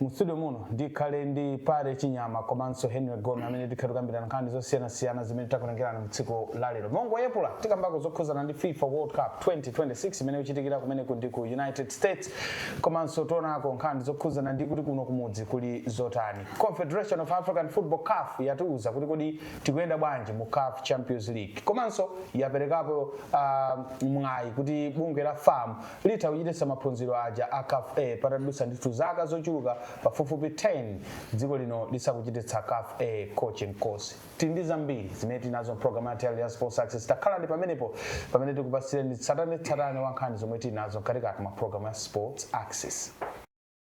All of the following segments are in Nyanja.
Mu studio muno ndikhale ndi Parry Chinyama komanso Henry Gome amene tikhale tikukambirana nkhani zosiyanasiyana zimene takutengerani mu tsiku la lero. Mongoyepula tikambako zokhudzana ndi FIFA World Cup 2026 imene ikuchitikira kumeneku ndi ku United States komanso tionako nkhani zokhudzana ndi kuti kuno kumudzi kuli zotani. Confederation of African Football CAF yatiuza kuti kodi tikuyenda bwanji mu CAF Champions League komanso yaperekapo ah, mwayi kuti bungwe la FAM Litha kuchititsa maphunziro aja a caf A patadutsa ndithu zaka zochuluka pafupifupi 10 dziko lino lisakuchititsa caf A coaching course. Tili ndi zambiri zimene tili nazo m'pulogalamu yathu ya lero ya Sports Axis. Takhalani pamenepo pamene tikupatsireni tsatanetsatane wa nkhani zomwe tili nazo mkatikati mwa pulogalamu ya Sports Axis.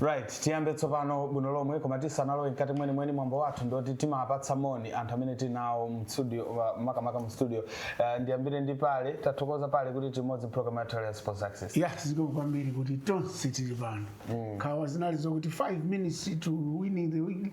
right tiyambe tsopano bwino lomwe koma tisanalowe mkati mwenimweni mwambo wathu ndoti timapatsa moni anthu amene tinawo mstudio wa- makamaka mu studio uh, ndiyambire ndi Parry tathokoza Parry kuti timodzi program yathu ya sports axis ya zikomo kwambiri kuti tonse tili pano nkhawa zinali zokuti 5 minutes to winning the week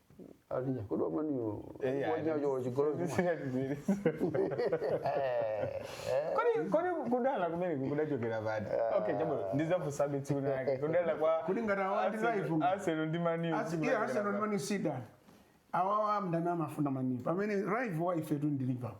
Alinya, kodi wamaniyo? Eh, Wanya ayi. yo chigolo chuma. Singatizire. Kodi- kodi kudana kumene kudachokera pati okay chabwino ndizafusabe tsiku lake kudana kwa Kodi ngati awa ndi Arsenal- live uko? Arsenal ndi Man U, As- tsiku yeah, lake Arsenal lapa- Man U si done. awawa amdani amafuna Man U pamene rival wa ifetu ndi liverpool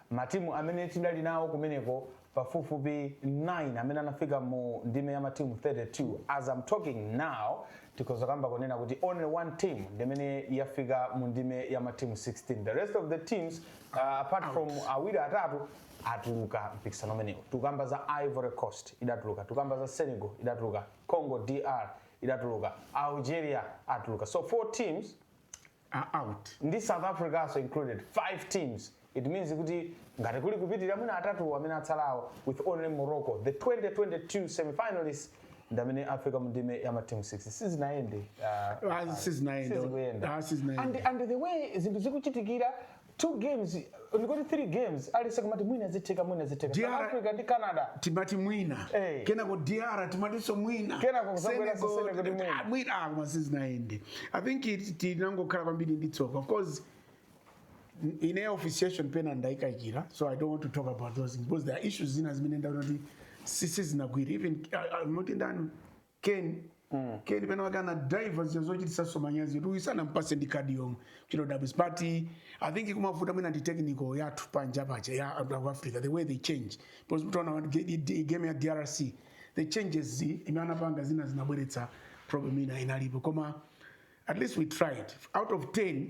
Matimu amene tidali nawo kumeneko pafupifupi 9 amene anafika mu ndime ya matimu 32 as I'm talking now tikhoza kamba kunena kuti only one team ndimene yafika mu ndime ya matimu 16 the rest of the teams uh, apart from awiri atatu atuluka mpikisano umenewu tukamba za ivory coast idatuluka tukamba za senegal idatuluka congo dr idatuluka algeria atuluka so four teams are out. ndi south africanso included 5 teams it means kuti ngati kuli kupitirira mwina atatu amene atsalawo with only morocco the 2022 semifinalists ndi amene afika mu ndime ya matimu 6 sizinayende uh, Ah, sizinayende. sizikuyenda. Ah, sizinayende. and, and the way zinthu zikuchitikira 2 games ndikuti 3 games at least timati mwina zitheka mwina zitheka DR... South Africa ndi Canada timati mwina hey. Eh. kenako DR timatinso mwina kenako kuzabweraso sene kuti mwina ah, mwina ah, koma sizinayende I think it tinangokhala kwambiri ndi tsoka of course ina officiation pena ndaikayikira so I don't want to talk about those things because there are issues zina zimene ndaona kuti si- sizinagwire even uh, uh, moti ndani Kane Kane pena wake anadaiva zija zochititsanso manyazi oti sanampatse ndi kadi yomwe chito dabs but i think kumavuta mwina ndi technical yathu panja paja ya anthu aku africa the way they change because mutaona wa- ge- i- i- game ya drc the changes zimene anapanga zina zinabweretsa problem ina inalipo koma at least we tried out of 10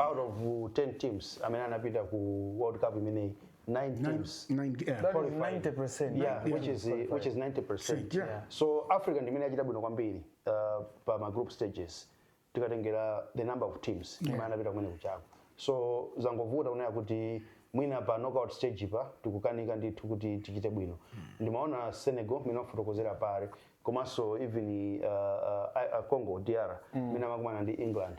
out of 10 teams amene anapita ku world cup imeneyi 9 teams Nine, yeah. That is qualified. 90%. yeah, Yeah. which is which is 90% Yeah. Yeah. so africa ndimene yachita bwino kwambiri uh, pa ma group stages tikatengera the number of teams imene anapita kumene kujako so zangovuta kungoti kunena kuti mwina pa knockout stage apa tikukanika ndithu kuti tichite bwino ndimaona senegal mmene wafotokozera apa komanso even uh, uh, I- uh, congo dr mmene amakumana ndi england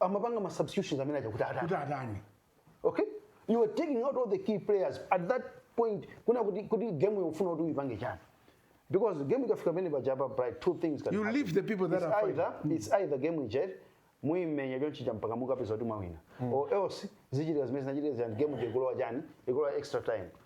amapanga ma substitutions amene aja kuti atani kuti atani okay you are taking out all the key players at that point kunena kuti kuti game yofuna kuti uyipange chiyani because game ikafika pamene paja apa bright two things can You happen. leave the people that it's are either it's either game ije muimenya chonchija mpaka mukapeza kuti mwawina or else zichitika zimene zinachitika zija game ije ikulowa chiyani ikulowa extra time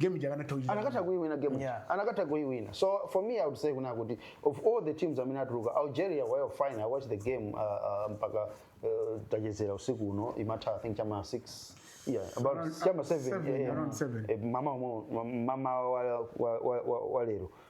game ija akanatha kuchita anakatha kuiwina game ija. Yeah. anakatha kuiwina so for me i would say kuna kuti of all the teams amene atuluka algeria were fine i watched the game uh, uh, mpaka uh, tachezera usiku uno imatha i think chama 6 yeah about Around- chama 7 seven, yeah, yeah. around seven. Eh, mama umo- ma- mama wa- wa- wa- wa- wa lero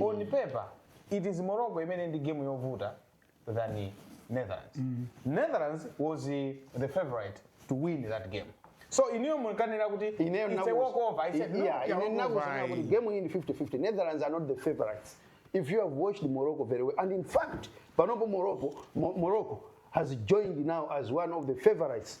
on paper it is morocco imene ndi game yovuta than netherlands netherlands was eh, the favorite to win that game so inuyo munkanena kuti ineyo it's a walk over i said no yeah, ine walk ndinakusanira over, kuti ayi. game iyi ndi 50-50 netherlands are not the favorites if you have watched morocco very well and in fact panopo morocco Mo- morocco has joined now as one of the favorites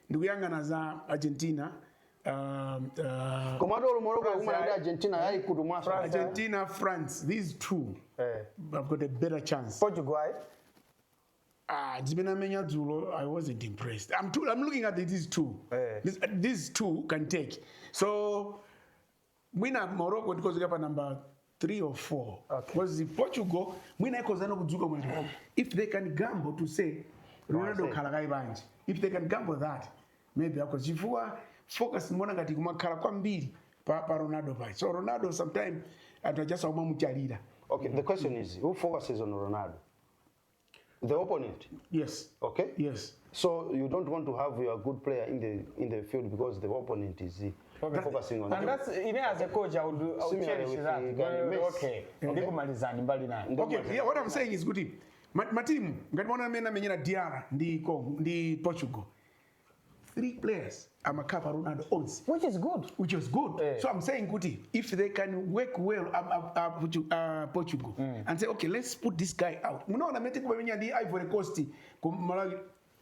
ndikuyang'ana za argentina um, uh, koma ati olo morocco akumana ndi argentina yayikutu mwaso argentina france these two eh. have got a better chance portugal Ah, zimene amenya dzulo i wasn't impressed i'm, too, I'm looking at these two Eh. these, these two can take so mwina morocco tikhoza kuyika pa number 3 or 4 because okay. portugal mwina ikhozano kudzuka mwati if they can gamble to say ronaldo oh, khala kaye panja if they can gamble that maybe ako chifukwa focus imaoneka ngati kumakhala kwambiri pa, pa ronaldo paja so ronaldo sometime anthu aja akumamutchalira okay the question is who focuses on ronaldo the opponent. Yes. Okay. Yes. So you don't want to have your good player in the in the field because the opponent is uh, focusing on. And that's even as a coach, I would, I would Similarly cherish with that. the Gary Well, Messi. okay. Ndikumalizani mbali nayo. Ndio Okay, maana- yeah, what I'm saying is kuti ma- matimu ngati maona amene amenyera DR ndi Congo ndi Portugal three players amakhava ronaldo onse which is good which is good eh. so i'm saying kuti if they can work well uh, uh, uh, portugal mm. and say okay let's put this guy out munaona mete kumamenya ndi ivory coast kumalawi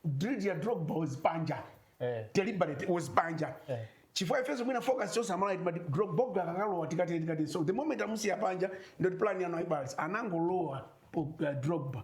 drill ya drogba was panja eh. deliberate was panja eh chifukwa ifeso mwina focus chose amalaiti but drop bogla akakalowa tikati tikati so the moment amusiya panja ndoti plan yano ibals anangolowa uh, drogba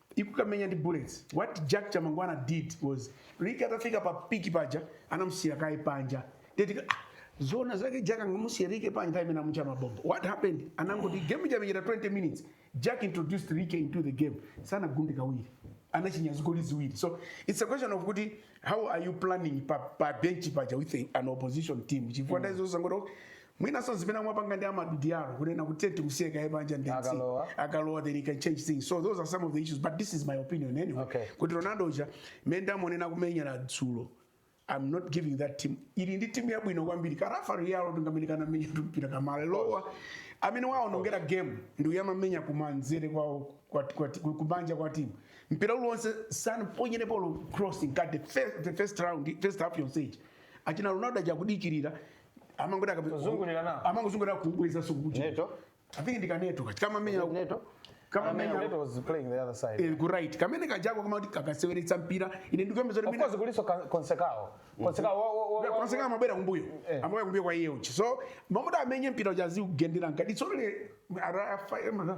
ikukamenya ndi bullets what jack chamangwana did was ligi atafika pa piki paja anamusiya kaye panja eti ah, zona zake jack anamusiya rike panja nthawi imene amutcha mabomba what happened anangoti game itamenyedwa 20 minutes jack introduced rike into the game sanagunde kawiri anachinya zigoli ziwiri so it's a question of kuti how are you planning pa, pa bench paja with a, an opposition team chifukwa mm. ndaizo zangoti mwinanso zimene amapanga ndi Amad Diallo kunena kuti tiye timusiye kaye panja ndiye akalowa akalowa then he can change things so those are some of the issues but this is my opinion anyway okay. kuti Ronaldo uja mmene ndamuonera kumenyera dzulo I'm not giving that team ili ndi timu yabwino kwambiri ka Rafa Leao ndi kamene kanamenya timpira katalowa amene waonongera game ndi uja amamenya kumanzere kwa kumanja kwa timu mpira uliwonse sanaponyere mpira crossing ka the first, the first round first half yonse achina Ronaldo aja kudikirira amangotha kabe Kuzungulira nawo. amangozungulira kubweza sukuti Neto. i think ndi ka Neto kaja kama menya Neto. kama Neto menya was playing the other side. eh, ku right kumene kujako kama kuti kakaseweretsa mpira ine ndikukamba zoti Of mina course kulinso ka- konsekao. Konsekao wa- wa- wa- wa- konse kamabwera kumbuyo Eh. amabwera kumbuyo kwa iye uja so amamuda amenye mpira uja zi kugendera nkadi so le arafa emara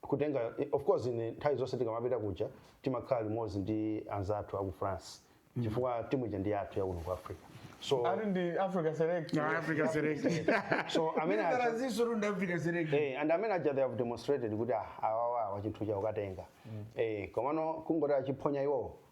kutenga of course ine nthawi zonse tikamapita kuja timakhala limodzi ndi anzathu aku france chifukwa timu ija ndi yathu yakuno ku africa so ali ndi africa select Na Africa Select. so amene aja- Ndanena zoti runda Africa Select. Eh, and amene aja they have demonstrated kuti ah, awawa chinthu chija akukatenga eh, komano kungoti achiphonya iwowo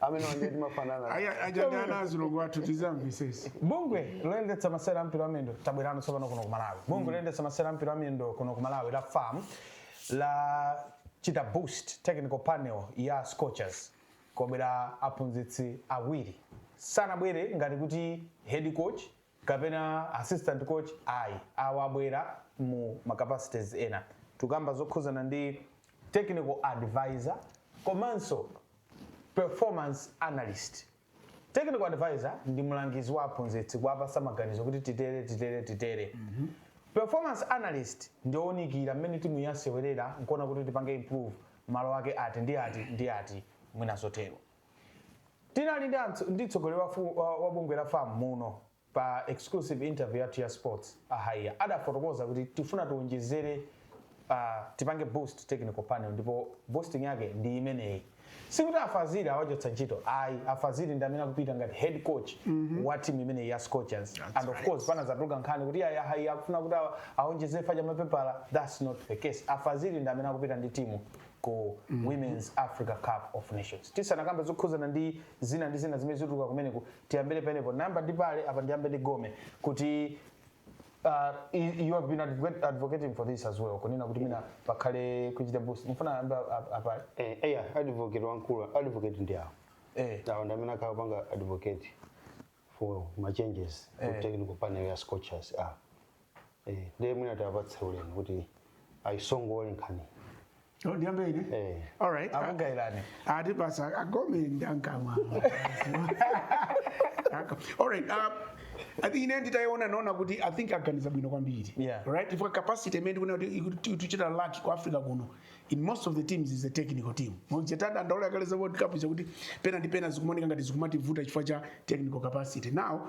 amene wanje timafanana awa aja ndi ana azilongo athu tizamvetsetsa bungwe loyendetsa masewera a mpira wa miyendo tabwerano tsopano kuno ku malawi bungwe loyendetsa masewera a mpira wa miyendo kuno ku malawi la fam lachita boost technical panel ya scorchers kwabwera aphunzitsi awiri sanabwere ngati kuti head coach kapena assistant coach ayi awa abwera mu ma capacities ena tikukamba zokhuzana ndi technical advisor komanso performance analyst technical advisor ndi mlangizi wa aphunzitsi kuwapatsa maganizo kuti titere titere titere mm -hmm. performance analyst ndi owunikira mmene timu yasewerera nkuona kuti tipange improve mmalo ake ati ndi ati ndi ati mwina zotero Tinali ndi antso, ndi mtsogoleri wa, wa, wa bungwe la FAM muno pa exclusive interview yathu ya sports a Haiya adafotokoza kuti tifuna tiwonjezere uh, tipange boost technical panel ndipo boosting yake ndi imeneyi sikuti afaziri awachotsa ntchito ayi afaziri ndi amene akupita ngati head coach mm -hmm. wa timu imeneyi ya scorchers that's and of right. course panazatuluka nkhani kuti ayayi akufuna kuti awonjezere wa mapepala that's not the case afaziri ndi amene akupita ndi timu ku women's africa cup of nations tisanakambe zokhuzana ndi zina ndi zina zimene zikutuluka kumeneko tiyambire pamenepo ndiyamba ndi apale apa ndiyambe ndi gome kuti uh, i- you have been advocate- advocating for this as well kunena kuti mwina pakhale kuchita boost mufuna ayambe ap- apale Eh, eya advocate wankulu advocate ndi awo eh awo ndi amene akhala akupanga advocate for ma changes ku Eh. technical panel ya scorchers ah eh ndiye mwina tiwapatse ulemu kuti ayitsogolere nkhani Oh, ndiyambe ine eh all right akugawirani ati basi agome ndankamwa all right uh, I think ine nditayiona naona kuti i think aganiza bwino kwambiri Yeah. right ifunika capacity imene tikuona kuti ikuti- tikuchita lack ku africa kuno in most of the teams ndi ya technical team muja tadandaula kale za world cup chakuti pena ndi pena zikumoneka ngati zikumativuta chifukwa cha technical capacity now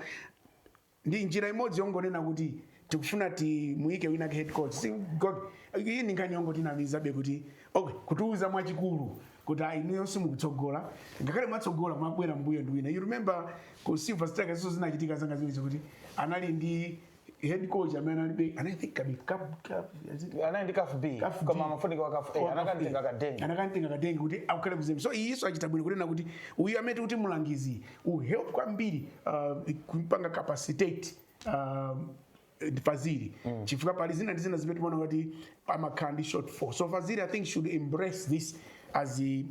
ndi njira imodzi yongonena kuti tikufuna timuike winawake head coach si god iyi ndi nkhani yongo tinamizana kuti okay kutiuza mwachikulu kuti ayi inuyo simukutsogola ngakhale mwatsogola mwabwera mbuyo ndi wina you remember ku silver strikers so zinachitika zangati zimenezi kuti anali ndi head coach amene analibe anayithink kabi kabu kabu yazidi anali ndi CAF B CAF B. koma amafunika wa CAF A anakamutenga kadenga anakamutenga kadenga kuti akhale kuzemba so iyiso achita bwino kunena kuti uyu amene akuti mulangizi will help kwambiri uh, kumpanga capacitate uh, faziri chifukwa pali zina ndi zina zimene timaona kuti amakhala ndi shortfall so faziri i think should embrace this as a-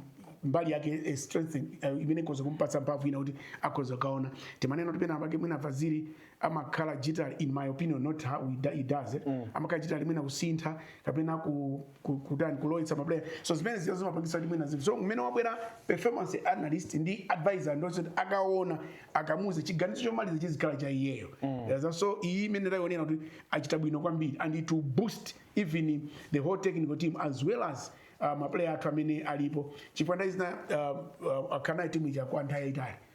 mbali yake eh, strength eh, imene ikhoza kumpatsa mphamvu ina kuti akhoza kukaona timanena kuti pena pake mwina faziri amakhala rigid in my opinion not how it, it does it mm. amakhala rigid mwina kusintha kapena ku, ku, kutani kulowetsa maplayer so zimene ziyo zimapangisa kuti mwina zinthu so mmene wabwera performance analyst ndi advisor ndi osati akaona akamuze chiganizo chomaliza chizikhala cha iyeyo mm. so iyi imene tayionera kuti achita bwino kwambiri and it will boost even the whole technical team as well as uh, maplayer athu amene alipo chifukwa ndaizina uh, uh, akhala nayo timu ija kwa nthawi yaitali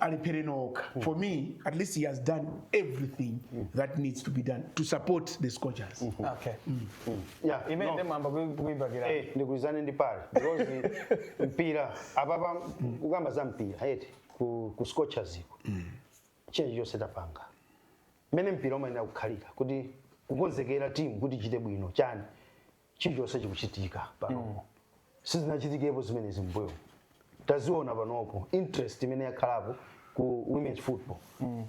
alephere okha for me at least he has done everything that needs to be done to support the scorchers okay Yeah, imene no. nde mwayamba kuibakira Eh, ndigwirizane ndi pale because mpira apapa kukamba za mpira eti ku, ku scorchers iko china chilichonse tapanga mmene mpira umayenera kukhalira kuti kukonzekera timu kuti ichite bwino chani chilichonse chikuchitika panopo sizinachitikepo zimenezi mbuyo taziona panopo interest imene yakhalapo ku women's football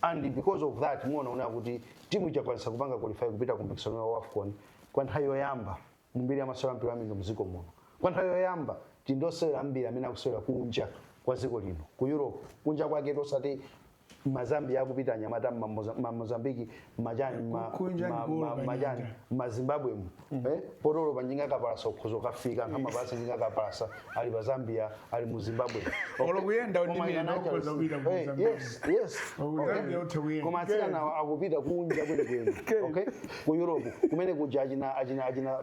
and because of that muona kunena kuti timu ija yakwanisa kupanga qualify kupita ku mpikisano wa wafcon kwa nthawi yoyamba mu mbiri ya masewera mpira wamiyendo mdziko muno kwa nthawi yoyamba tili ndi osewera ambiri amene akusewera kunja kwa dziko lino ku europe kunja kwaketu osati mazambia akupita anyamata mamozambiki machani machani mazimbabwe mu mm. eh, poti olo panjinga kapalasa ukhoza kukafika ngamapasa njinga kapalasa ali pa zambia ali mu zimbabwe koma atsikana akupita kunja kwenikweni okay ku europe kumene kuja achina achina achina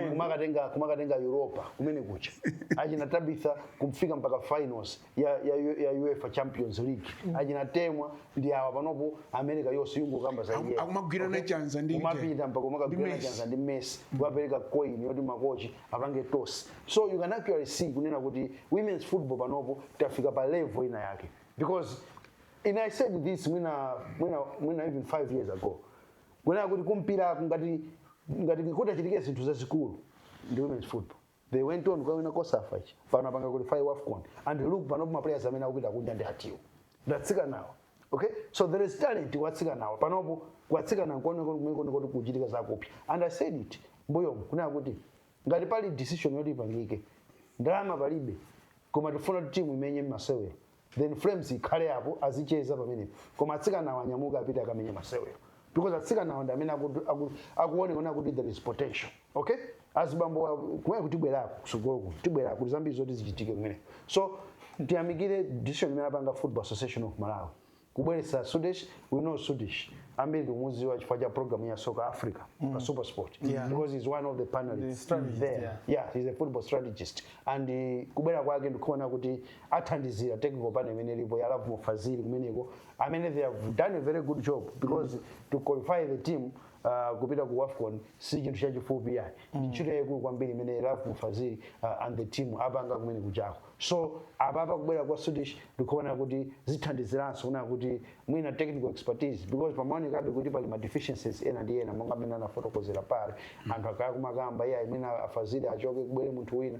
kumakatenga kumakatenga europa kumene kuja achina tabitha kufika mpaka finals ya, ya, U- ya uefa champions league achina temwa ndi awa panopo america yonse yungokamba za Aku- iye. akumagwirana Okay? chanza ndi kumapita mpaka kumakagwirana Messi. chanza ndi messi kukapereka coin yoti makochi apange tosi so you can actually see kunena kuti women's football panopo tafika pa level ina yake because and i said this mwina mwina mwina even five years ago kunena kuti kumpira ngati ngati kutachitike zinthu zazikulu ndi women's football they went on kukawina cosafa ichi pano apanga qualify wafcon and look panopo maplayers amene akupita kunja ndi atiwo ndatsikanawo okay so there is talent kwa atsikanawo panopo kwa atsikana nkomwe kukuchitika zakupya and i said it mbuyomu kunena kuti ngati pali decision yoti ipangike ndalama palibe koma tifuna kuti timu imenye masewero then flames ikhale apo azicheza pamenepo koma atsikanawo anyamuke apite akamenye masewero because atsikanawo ndi amene aku- aku- akuonekana kuti there is potential okay azibambo a- kumeneko tibwerako kusogolo kuno tibwerako kuli zambiri zoti zichitike kumene so tiyamikire decision imene apanga football association of malawi kubweretsa sudesh we know sudesh ambiri tikumuziwa chifukwa cha program ya soccer africa pa supersport because he's one of the panelists strategist, there yeah. yeah he's a football strategist and uh, kubwera kwake ndikuona kuti athandizira technical panel imene ilipo ya Lovemore Fazili kumeneko amene they have done a very good job because to qualify the team uh, kupita ku AFCON si chinthu chachifupi yayi ndi ntchito yayikulu kwambiri imene Lovemore Fazili uh, and the team apanga kumene kujako so apapa kubwera kwa Swedish ndikuona kuti zithandiziranso kunena kuti mwina technical expertise because pamaonekabe kuti pali ma deficiencies ena ndi ena monga amene anafotokozera paja anthu akhala akumakamba iye amene a Fazili achoke kubwere munthu wina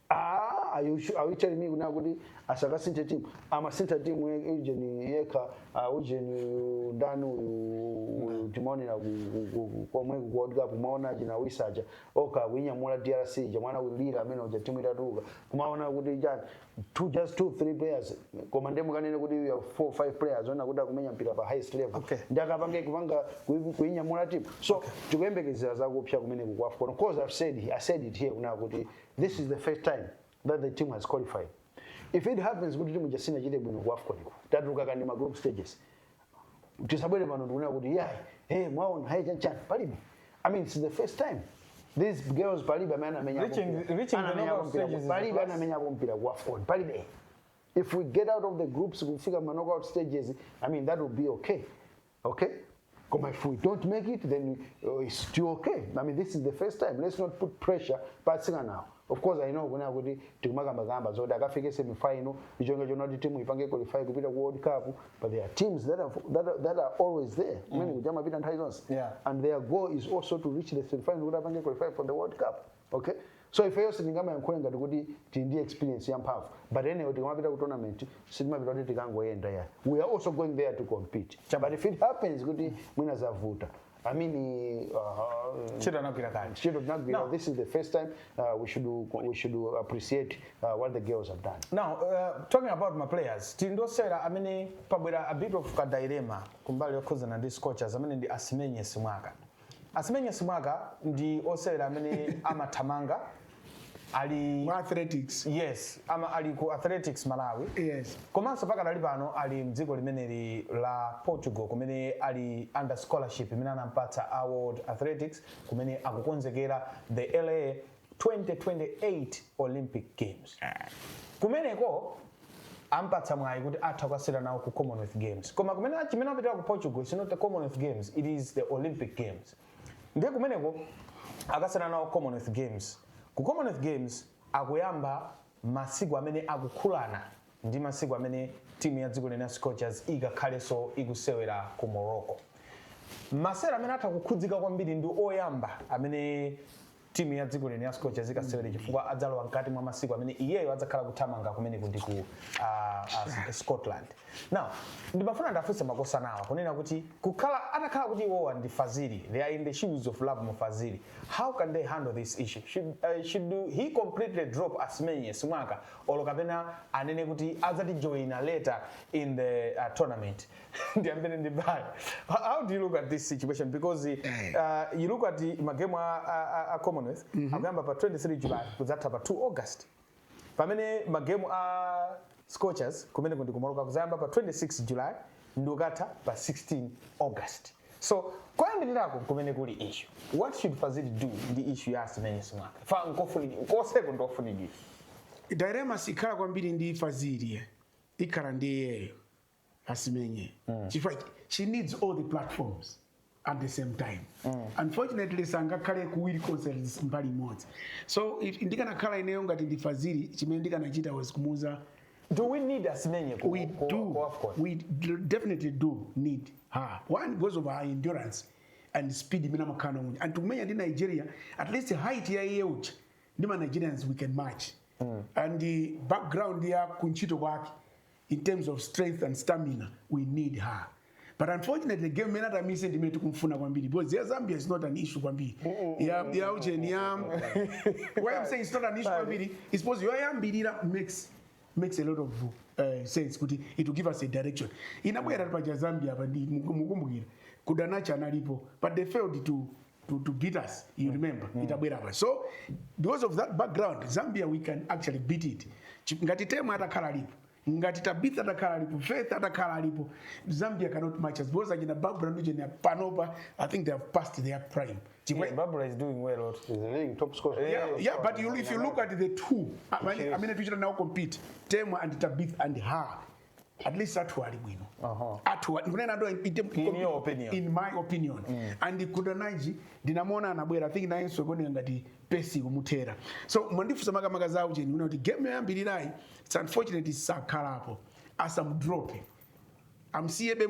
Ah, are you sure? Are you telling me now kuti sakasintha timu amasintha timu ye- ujeni yekha ah, ujeni uyu ndani uyu uyu timaonera ku- ku- ku- ku- komwe ku world cup umaona china Wissa uja oka kuinyamula drc ija mwana ulira amene uja timu itatuka kumaona kuti chani two just two three players koma ndiye mukanene kuti you have four five players onena kuti akumenya mpira pa highest level Okay. ndakapange kupanga kui- kuinyamula timu so tikuyembekezera zakupsa kumeneku kwa AFCON cause i've said i said it here kunena kuti this is the first time that the team has qualified if it happens kuti timu ija sinachite bwino ku afcon iko tatuluka kaya m'ma group stages tisabwere pano ndikunena kuti yayi hey mwaona hey chanchani palibe i mean it's the first time these girls palibe amene anamenya Reaching- reaching the knockout stages is the palibe first. anamenya mpira ku afcon palibe if we get out of the groups kufika ma knockout stages i mean that would be okay Okay? Koma if we don't make it, then uh, it's still okay. I mean, this is the first time. Let's not put pressure pa atsikanawo. Of course, I know kunena kuti tikumakambakamba zoti akafike semifinal n'cholinga chonena kuti timu ipange qualify kupita ku World Cup, but there are teams that are, that are, that are always there. Kumene kuja amapita nthawi zonse. Yeah. And their goal is also to reach the semifinal kuti apange qualify for the World Cup. okay so ifeyo sitingamayankhule ngati kuti tili ndi experience yamphamvu but anyway tikamapita ku tournament sitimapita kuti tikangoyenda ya we are also going there to compete Cha, but if it happens kuti mwina zavuta i mean uh, Ntchito anagwira kale. ntchito tinagwira No. this is the first time uh, we should we should appreciate uh, what the girls have done now uh, talking about my players tili ndi osewera amene wabweretsa a bit of kadilema kumbali yokhuzana ndi scorchers amene ndi Asimenye Simwaka Asimenye Simwaka ndi osewera amene amathamanga ali mu athletics yes ama ali ku athletics malawi yes komanso pakadali pano ali mdziko limeneli la portugal kumene ali under scholarship imene anampatsa a world athletics kumene akukonzekera the la 2028 olympic games kumeneko ampatsa mwayi kuti atha kukasewera nawo ku commonwealth games koma kwenikweni chimene apitira ku portugal is not the commonwealth games it is the olympic games ndiye kumeneko akasewera nawo commonwealth games ku commonwealth games akuyamba masiku amene akukhudzana ndi masiku amene timu ya dziko lino ya scorchers ikakhalenso ikusewera ku morocco masewera amene atha kukhudzika kwambiri ndi oyamba amene timu ya dziko lino ya Scorchers ikasewere chifukwa adzalowa mkati mwa masiku amene iyeyo adzakhala kuthamanga kumene kundi ku ah, ah, Scotland. Now, ndimafuna ndiwafunse makosana awa kunena kuti ukakhala atakhala kuti iwowa ndi Fazili, they are in the shoes of Lovemore Fazili. How can they handle this issue? Should, uh, should do- he completely drop Asimenye Simwaka or kapena anene kuti adzatijoina later in the uh, tournament? ndiyambene ndi Bayi Ho- how do you look at this situation because Eh. uh, you look at the- magemu a, a, a- a commonwealth akuyamba pa 23 july kuzatha pa 2 august pamene magemu a scorchers kumene kundi ku morocco kuzayamba pa 26 july ndi kukatha pa 16 august so koyambirirako kumene kuli issue what should fazili do ndi issue ya asimenye simwaka amene akufunidwa koseko ndofunidwa dilemma sikhala kwambiri ndi fazili ikhala ndi iyeyo asimenye chifukwa she needs all the platforms at the same time unfortunately sangakhale kuwiri konse mbali imodzi so if- ndikanakhala ineyo ngati ndi fazili chimene ndikanachita was kumuuza do we need asimenye ku- we ku- do ku AFCON? we d- definitely do need her one because of her endurance and speed imene amakhala nayo and tikumenya ndi nigeria at least height ya iye uja ndi ma nigerians we can match and the background ya kuntchito kwake in terms of strength and stamina we need her but unfortunately game imene ataimisse ndi imene tikumfuna kwambiri because ya zambia is not an issue kwambiri ya ya ujeni ya why i'm saying it's not an issue kwambiri is because yoyambirira makes makes a lot of uh, sense kuti it will give us a direction inabwera paja zambia apa ndi mukumbukira kundananji analipo but they failed to to, to beat us you remember mm. itabwera pa so because of that background zambia we can actually beat it ngati temu atakhala lipo ngati tabitha atakhala alipo faith atakhala alipo zambia cannot match us because achina babra ndi chene panopa i think they have passed their prime yeah, babra is doing well lot is the league top scorer yeah, yeah, yeah but you, if you look at the two i mean i mean if you should now compete temu and tabitha and her at least athu ali bwino uh-huh. athu kunena ndo in your opinion in my opinion mm. and kundananji ndinamuona anabwera i think nayenso kuoneka ngati pace kumuthera so mwandifunsa makamaka za aujeni kunena kuti game yoyambirirayi it's unfortunate sakhalapo asamudrope amsiyebe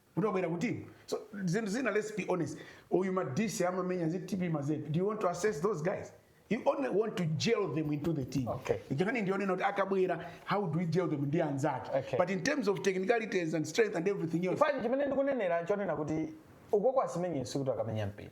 kuti wabwera kuti so zinthu zina let's be honest uyu madise amamenya ku tp mazembe do you want to assess those guys you only want to gel them into the team Okay. nkhani ndi yonena kuti akabwera how do we gel them ndi anzake Okay. but in terms of technicalities and strength and everything else fani chimene ndikunenera chonena kuti ukoko asimenye sikuti akamenya mpira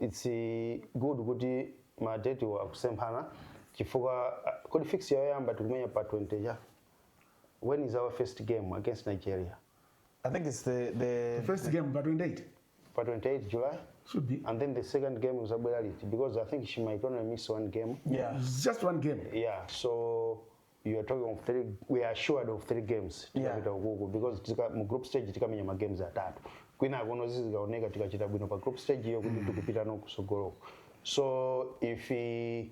its good kuti ma date wa akusemphana chifukwa ah, kodi fix ya yoyamba tikumenya pa 20 ja when is our first game against nigeria I think it's the, the First game pa 28 pa 28 july should be and then the second game is abwera liti because i think she might only miss one game yeah. It's just one game. yeah so you are talking of three we are assured of three games Yeah. tikapita ukuku because tika, mu group stage tikamenya ma games atatu kwina akuno zizikaoneka tikachita bwino pa group stage iyo kuti tikupita no kusogoloko so if eh,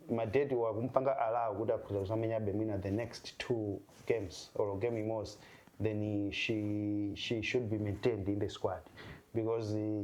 madeti wakumpanga allow kuti akhoza kusamenyabe mwina the next two games or game imodzi then eh, she, she should be maintained in the squad because eh,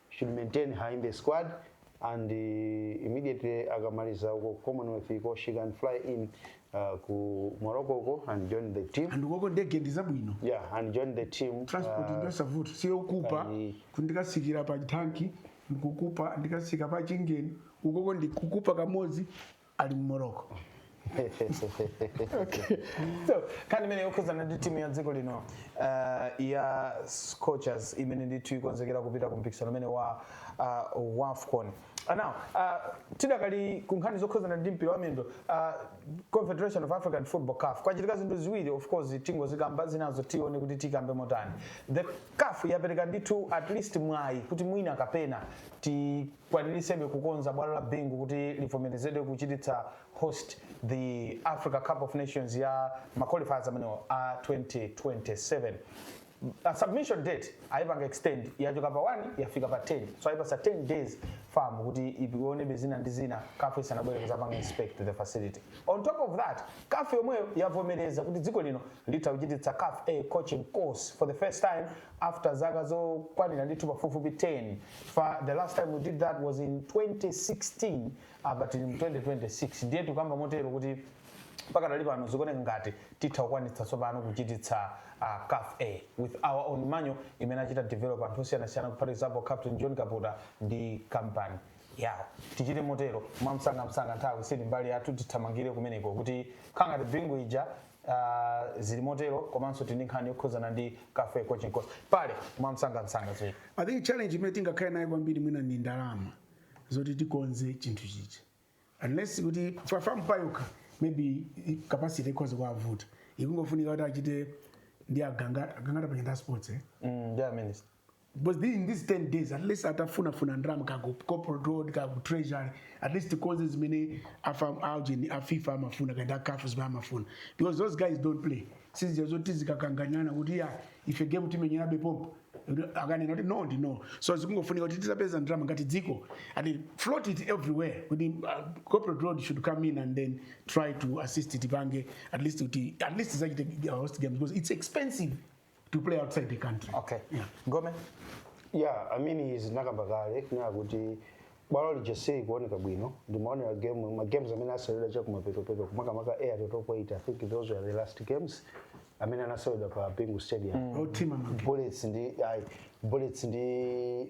should maintain her in the squad and immediately akamaliza uko ku commonwealth iko she can fly in uh, ku morocco uko and join the team and ukoko ndege ndi zabwino yeah and join the team transport uh, ndosavuta siyokupa kani- kundikasikira pa tanki ndikukupa ndikasika pa chingeni ukoko ndikukupa kamodzi ali mu morocco okay. so nkhani imene yokhuzana ndi timu ya dziko lino uh, ya scorchers imene ndithu ikonzekera kupita ku mpikisano umene wa uh, wafcon uh, now uh, tidakali ku nkhani zokhuzana ndi mpira wa miyendo uh, confederation of african football caf kwachitika zinthu ziwiri of course tingozikamba zinazo tione kuti tikambe motani the caf yapereka ndithu at least mwayi kuti mwina kapena ti kwanilitsebe kukonza bwalo la Bingu kuti livomerezedwe kuchititsa host the Africa Cup of Nations ma qualifiers amenewo a 2027 submission date ayipanga extend yachoka pa 1 yafika pa 10 so ayipasa 10 days FAM kuti ionebe zina ndi zina caf isanabwere kuzapanga inspect the facility on top of that caf yomweyo yavomereza kuti dziko lino litha kuchititsa caf a coaching course for the first time after zaka zokwanira ndithu pafupifupi 10 Fa, the last time we did that was in 2016 apa tili mu 2026 ndiye tikuyamba motero kuti mpaka tali pano zikuoneka ngati titha kukwanitsa tsopano kuchititsa uh, caf a with our own manual imene achita develop anthu osiyanasiyana for example captain john kaputa ndi company yawo tichite motero mwamsangamsanga nthawi sili mbali yathu tithamangire kumeneko kuti nkhani ya bingu ija Ah, zili motero komanso tili ndi nkhani yokhudzana ndi caf a coaching course bale mwamsangamsanga zili i think challenge imene tingakhale nayo kwambiri mwina ndi ndalama zoti tikonze chinthu chichi unless kuti pa FAM payokha maybe i- capacity ikhoza kuwavuta ikungofunika kuti achite ndi aganga aganga tapachita sports eh? mm, yeah, minister. because in these 10 days at least atafunafuna ndalama kaya ku corporate world kaya ku treasury at least tikonze zimene afa- aujeni a fifa amafuna kaya a caf zimene amafuna because those guys don't play sizija zoti zokakanganyana kuti yayi ife game timenyerabe pompo akanena kuti no ndi no so zikungofunika kuti tizapeza ndalama ngati dziko and float it everywhere kuti uh, corporate world should come in and then try to assist tipange at least kuti at least tizachite uh, host games because it's expensive to play outside the country okay yeah. gome yeah i mean izi tinakamba kale kunena kuti bwalo lija silikuoneka bwino ndimaonera game ma games amene aseweredwa cha kumapetopeto kumakamaka air totopoita i think those were the last games amene anaseweredwa pa bingu stadium mm. team bullets ndi ayi bullets ndi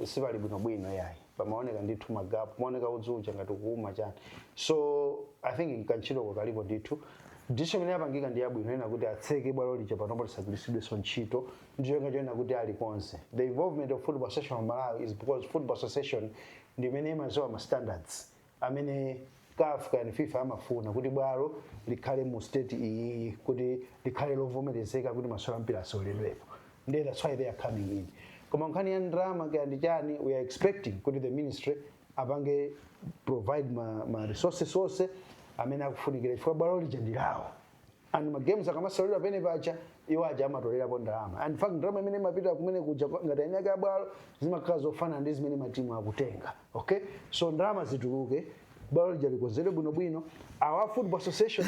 eh, sipali bwinobwino yayi pamaoneka ndithu magapu pamaoneka udzu uja ngati kuuma chani so i think kantchitoko kalipo ndithu decision imene yapangika ndi yabwino kunena kuti atseke bwalo lija panopo lisagwiritsidwenso ntchito ndichoyenga choyena kuti alikonze the involvement of football association of malawi is because football association ndi imene imaziwa ma standards amene caf kaya ndi fifa amafuna kuti bwalo likhale mu state iyiyi kuti likhale lovomerezeka kuti masewero ampira aseweredwepo ndiye that's why they are coming in koma nkhani ya ndrama kaya ndi chani we are expecting kuti the ministry apange provide ma, ma resources onse amene akufunikira chifukwa bwalo lija ndi lawo and ma games akamaseweredwa pamene paja iwo aja amatolerapo ndalama and in fact ndalama imene imapita kumene kuja pa- ngati eniake abwalo zimakhala zofanana ndi zimene matimu akutenga okay so ndalama zituluke, bwalo lija likonzedwe bwinobwino awa football association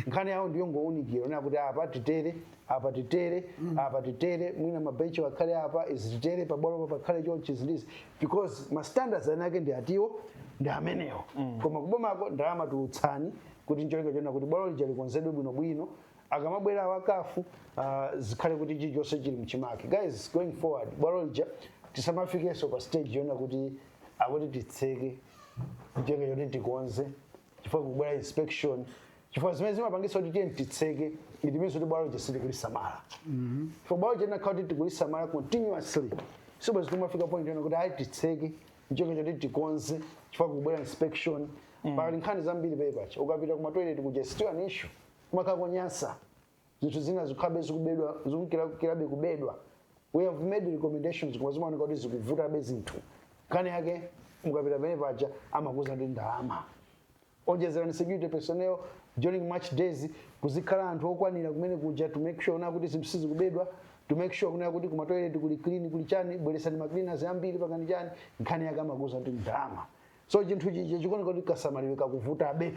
nkhani yawo ndiyo ngounikira onena kuti apa titere apa titere apa titere mwina mabenchi wakhale apa izi titere pabwalo pakhale chonchi zilizi because ma standards anenedwa atiwo ndi amenewo koma kubomako ndalama tulutsani kuti ncholinga chonena kuti bwalo lija likonzedwe bwinobwino akamabwera awa a CAF uh, zikhale kuti chilichonse chili mchimake guys going forward bwalo lija tisamafikenso pa stage yonena kuti akuti titseke ncholinga choti tikonze chifukwa kubwera inspection chifukwa zimene zimapangisa kuti tiyeni titseke it means kuti bwalo lija sitikulisamala chifukwa bwalo lija likanakhala kuti tikulisamala continuously sibwenzi tikumafika point yonena kuti ayi titseke ncholinga choti tikonze chifukwa kubwera inspection mm. pali nkhani zambiri pamene paja ukapita kuma toilet kuja still an issue kumakhala konyasa zinthu zina zikhabe zikubedwa zikukhalirabe kubedwa we have made recommendations koma zimaoneka kuti zikuvutabe zinthu nkhani yake mukapita pamene paja amakuuza ndi ndalama onjezerani security personnel during match days kuzikhala anthu okwanira kumene kuja to make sure kunena kuti zinthu sizikubedwa to make sure kunena kuti kuma toilet kuli clean kuli chani bweretsani ma cleaners ambiri pangani chani nkhani yake amakuuza kuti ndalama so chinthu chija chikuoneka kuti kasamalidwe kakuvutabe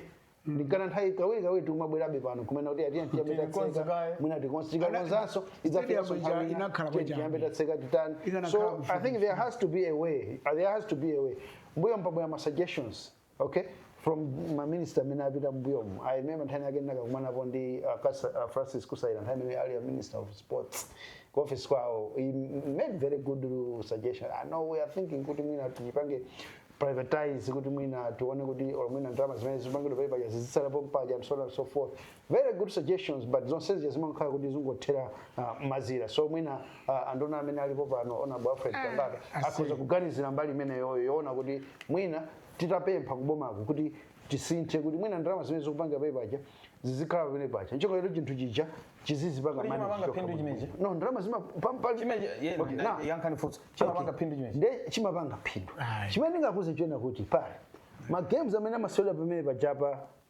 nchifukwa chake nthawi kawiri kawiri tikumabwerabe pano kumanena kuti ati ya tiyambe Tilikonza tatseka kaye. mwina tikonza tikakonzanso idzafikanso Stadium ija nthawi inakhala ina kwachani. tiyambe tatseka titani so i kufupi. think there has to be a way uh, there has to be a way mbuyo mwabwera ma suggestions okay from maminista amene apita mbuyomu i remember nthawi ina yake ndinakakumanapo ndi uh, Kas- uh, francis Kasaila nthawi imene ali a minister of sports ku office kwawo he made very good uh, suggestion i know we are thinking kuti mwina tichipange privatize kuti mwina tione kuti or mwina ndalama zimene zikupangidwa pamene paja zizitsala pompaja and so on and so forth Very good suggestions but zonsezi zimakhala kuti zangothera ah, mazira so mwina ah, anduna amene alipo pano ona boyfriend kambaka akhoza kuganizira mbali imeneyoyo yoona kuti mwina titapempha kubomako kuti tisinthe kuti mwina ndalama zimene zikupangidwa pamene paja zizikhala pamene paja ncholinga choti chinthu chija chizizipanga Kodi manage chimapanga chokha phindu bwino. chimenechi? no ndalama zima pa- pa- Chimenechi, ye- Okay, na- now- yankhani funso. Chimapanga Okay. phindu chimenechi? Nde chimapanga phindu Ayi. chimene ndingakuuzeni nchonena kuti pali ma games amene amaseweredwa pamene pajapa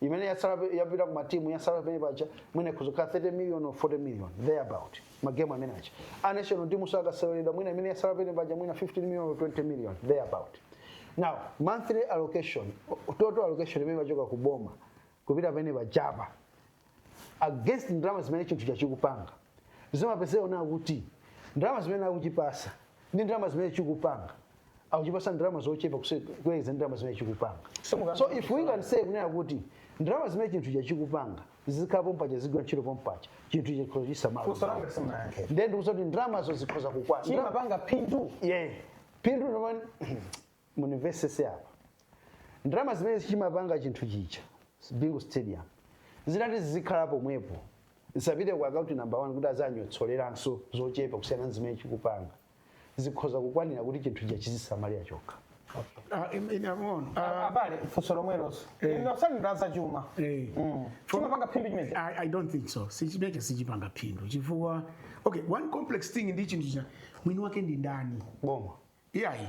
imene yatsala pe- yapita ku matimu yatsala pamene paja mwina ikhoza kukhala 30 million or 40 million there about magemu amene aja a national team akaseweredwa mwina imene yatsala pamene paja mwina 15 million or 20 million there about now monthly allocation total allocation imene imachoka ku boma kupita pamene pajapa against ndalama zimene chinthu chija chikupanga zimapezeka zoona kuti ndalama zimene akuchipasa ndi ndalama zimene chikupanga akuchipatsa ndalama zochepa kuse- kuyerekeza ndi ndalama zimene chikupanga Simuka- so if we can say kunena kuti ndalama zimene chinthu icho chikupanga zizikhala pompaja zizigwira ntchito pompaja chinthu icho chikhoza kudzisamala Funso langa simunayankhe. ndiye ndikukuuzani kuti ndalamazo zikhoza kukwana Chimapanga phindu. yeah. phindu no man mundimvetsetse apa ndalama zimene chimapanga chinthu chija bingu stadium zitati zizikhala pomwepo zisapite ku akaunti namba 1 kuti adzanyotsolerenso zochepa kusiyana ndi zimene chikupanga zikhoza kukwanira kuti chinthu chija chizidzisamalira chokha Ah, in- in- amaona. Ah, abale funso lomweloso Eh. inu odziwa za chuma eh. chimapanga phindu chimenecho I, I don't think so chimene chija sichipanga phindu chifukwa okay one complex thing ndi chinthu chija mwini wake ndi ndani boma iyayi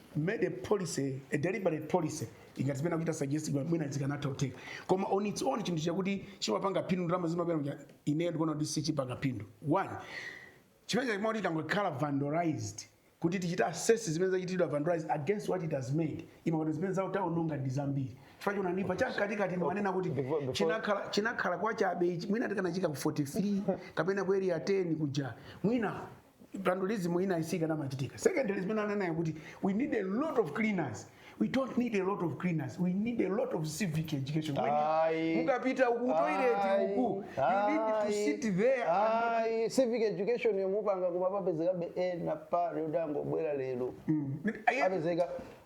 made a policy a deliberate policy ngati zimene akuchita suggest kuti mwina zikanatha kutheka koma on its own chinthu chakuti chimapanga phindu ndalama zimaperewera kuti ineyo ndikuona kuti sichipanga phindu one chimene chikuchitika kuti changokhala vandalized kuti titachita assess zimene zachitidwa vandalized against what it has made umaona kuti zimene akuononga ndi zambiri chifukwa chake ndipo chamkatikati ndimanena kuti Before- before- chinakhala chinakhala kwa Chabe ichi mwina tikanachiika ku 43 kapena ku area 10 kuja mwina vandalism ina isikanamachitika secondly zimene ananena kuti we need a lot of cleaners we don't need a lot of cleaners we need a lot of civic education When you- Aye. mukapita ku toilet Aye. uku you need to Aye. sit there and not- Aye. civic education yomwe mupanga kumapezekabe ena paja ongobwera lero Mm. Aye. apezeka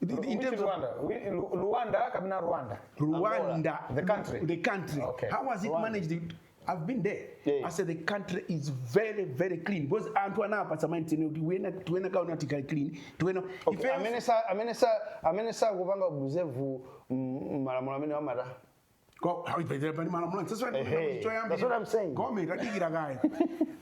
in Which terms of- Rwanda? Whi- Lu- Luanda kapena Rwanda? Rwanda, Angola, the country. the country. Okay. How was it Rwanda. managed? It- I've been there. Yeah, yeah. I said the country is very, very clean because anthu anapanga maintain kuti wina aliyense akaona kuli clean tiona Okay, ife- amene sa- amene sa- amene sakupanga observe mm, malamulo amene amata Ko- hayi, pete- pali malamulo ake. Tsopano wina Ehe, kuti choyambira. that's what I'm saying. Gome, tadikirani kaye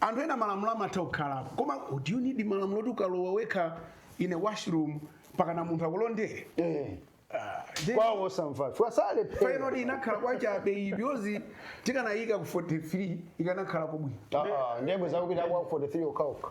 anthu ena malamulo amatha kukhalapo koma do you need malamulo kuti ukalowa wekha in a washroom mpaka munthu akulondere Eh, Ah, then- kwa osamva chifukwa salephera point yoti inakhala kwachabe iyi bwezi tikanaiika ku 43 ikanakhala pabwino Ah, ah, ndi omwe akupita kwa 43 okhaokha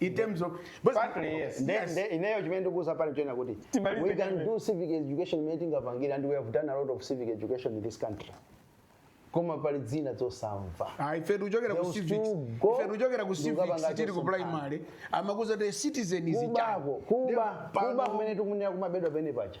in terms of But- partly yes Nde- yes nde- ineyo chimene ndikukuuza apa nchonena kuti Timalize we can chimene. do civic education imene tingapangire and we have done a lot of civic education in this country koma pali zina zosamva Ah, ife tikuchokera ku Those civics two go- ife tikuchokera ku civics Ndikapanga tiri ku chosemphana. primary amatiuza kuti citizen is a child. kubako kuba Nde- pano- kuba kumene tikunena kumabedwa penipeni paja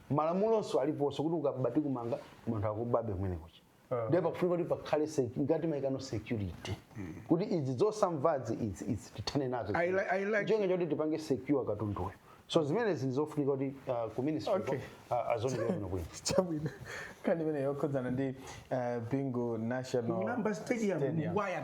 malamulonso aliponso kuti ukaba tikumanga koma anthu akubabe kumene kuja Ah. ndiye pakufunika kuti pakhale sec- ngati maikidwe a security kuti izi zosamvazi izi izi tithane nazo I li- I like- chonga choti tipange secure katunduyo so zimenezi ndizofunika kuti ah, ku ministry Okay. ah, azionenso bwino bwino chabwino nkhani imeneyi yokhudzana ndi eh, bingu national Number stadium, Stadium. wire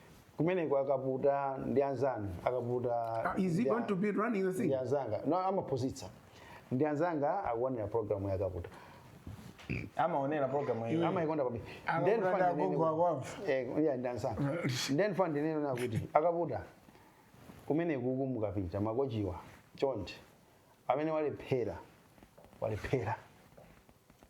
kumeneko akaputa ndi anzanu akaputa amaphunzitsa ndi anzanga akuonera programu yakaputa amaonera programu iyo amaikonda kwambiri Akaputa Then ndi fund agogo inene- ako apo. Eh, yeah, ndi anzanga then fund inene nakuti akaputa kumeneku mukapita makochiwa chonde amene wale- walephera walephera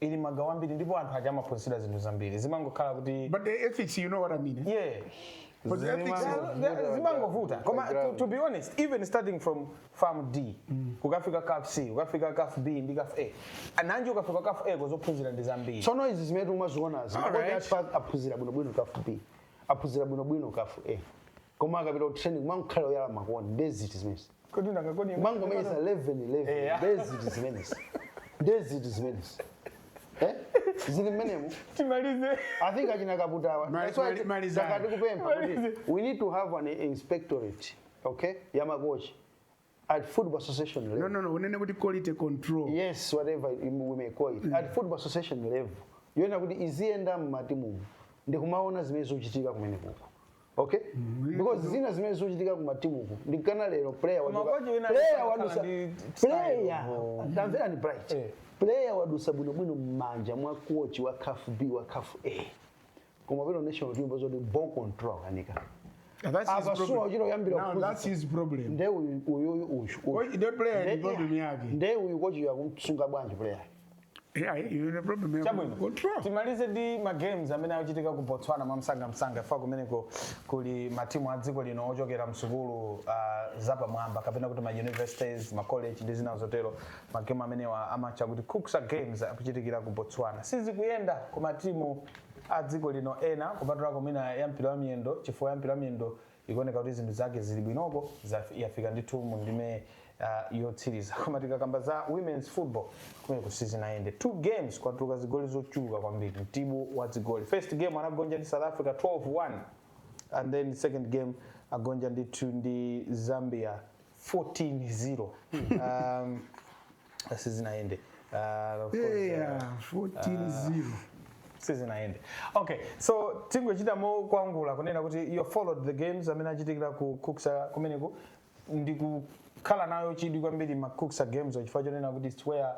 ili magawo ambiri ndipo anthu aja amaphunzira zinthu zambiri zimangokhala kuti but the ethics you know what i mean eh? yeah But the ethics Zimango- Zima- zimangovuta koma to, to be honest even starting from FAM D kukafika caf c kukafika caf b ndi caf a ananji ukafika caf a zophunzira ndi zambiri tsono izi zimene timazionazi aphunzira bwinobwino caf b aphunzira bwinobwino caf a koma akapita ku training kumakhala oyala ma cone ndeziti zimezi kodi nanga kodi kumangomenyesa 11 11 Eya. nde ziti zimenezi nde ziti zimenezi Eh? zili mmenemo timalize I think achina kaputawa. Mali- That's why mali- malizani. takati kupempha kuti Malizani. we need to have an inspectorate, okay, ya makochi at football association level. no no no unene kuti quality control Yes, whatever we may call it. At football association level. Yoonera kuti iziyenda mmatimumo ndikumaona zimene zikuchitika kumeneko. okay because zina zimene zikuchitika kumatimuku ndi kana lero player Koma waduka- kochi wina player anakhala wadusa ndi style, player oh. tamvera ni bright Eh. player wadusa bwinobwino mmanja mwa kochi wa caf b wa caf a koma pano national team pazoti ball control ikukanika That's his Apa problem. uchite kuyambira Now, kuphunzitsa. that's his problem. nde uyu uyuyu uyu Kochi- the player ni problem yake. nde uyu kochi akumsunga bwanji player Eh, ayi, iwe ne problem yako. chabwino Control. timalize ndi ma games amene akuchitika ku botswana mwamsangamsanga fa kumeneko kuli matimu a dziko lino ochokera msukulu uh, zapamwamba kapena kuti ma universities ma college ndi zina zotero ma game amenewa amatcha kuti cucsa games akuchitikira ku botswana sizikuyenda ku matimu a dziko lino ena kupatulako mwina ya mpira wa miyendo chifukwa ya mpira wa miyendo ikuoneka kuti zinthu zake zili bwinoko zaf- yafika ndithu mu ndime uh, yotsiriza koma tikakamba za women's football kumeneko sizinayende two games kwatuluka zigoli zochuluka kwambiri mtibu wa zigoli first game anagonja ndi south africa 12-1 and then second game agonja ndithu ndi zambia 14-0 um, sizinayende uh, of course, uh, yeah 14 0 sizinayende okay so tingochita mokwangula kunena kuti you followed the games amene achitikira ku cucsa kumeneku ndi kukhala nayo chidwi kwambiri ma cucsa games chifukwa chonena kuti it's where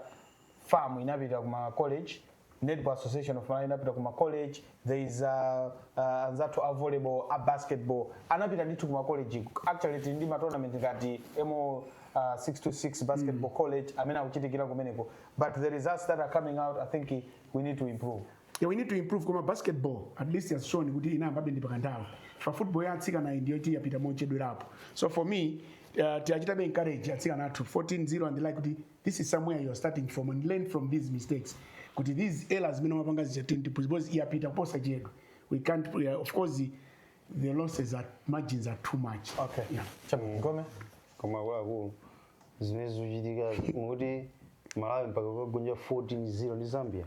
FAM inapita kuma college netball association of malawi inapita kuma college there is a, uh, anzathu a volleyball a basketball anapita ndithu kuma college actually tili ndi matournament ngati mo uh, 626 basketball mm. college amene akuchitikira kumeneko but the results that are coming out i think we need to improve yeah, we need to improve koma basketball at least has shown kuti inayambabe ndi pakanthawi pa football ya atsikana ndiyoti yapita mochedwerapo so for me uh, tiwachitabe encourage atsikana athu 14 0 and like kuti this is somewhere you are starting from and learn from these mistakes kuti these errors zimene mwapanga zija tintipuzi because yapita kuposa chedwe we can't we are, of course the losses are margins are too much okay yeah. chabwino ngome koma akuluakulu zimene zikuchitika zakuti malawi mpaka kukagonja 14 0 ndi zambia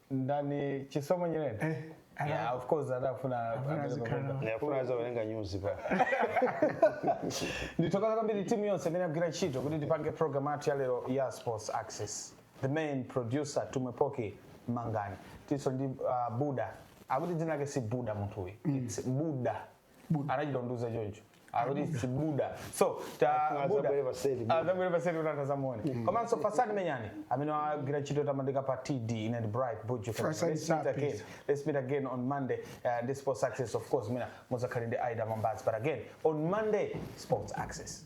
ndani chisomo nyirenda Eh, ana- yeah, of course adafuna Afuna amene zikhala. pakuimba. ndiyafuna azawerenge nyuzipa ndithokoza kwambiri timu yonse imene yagwira ntchito kuti tipange program yathu ya lero ya sports access the main producer tumwepoke mangani tilinso ndi uh, buda akuti dzina lake si buda munthu uyu its buda anachita kundiuza choncho akuti si buda so ta Akulu buda azabwere paseli. azabwere paseli kuti anthu azamuone komanso fasadi menyani amene wagwira ntchito yotamandika pa td ine ndi bright buju Fasadi let's meet again Sapis. let's meet again on monday uh, ndi sports access of course mawa muzakhale ndi aida mambazi but again on monday sports access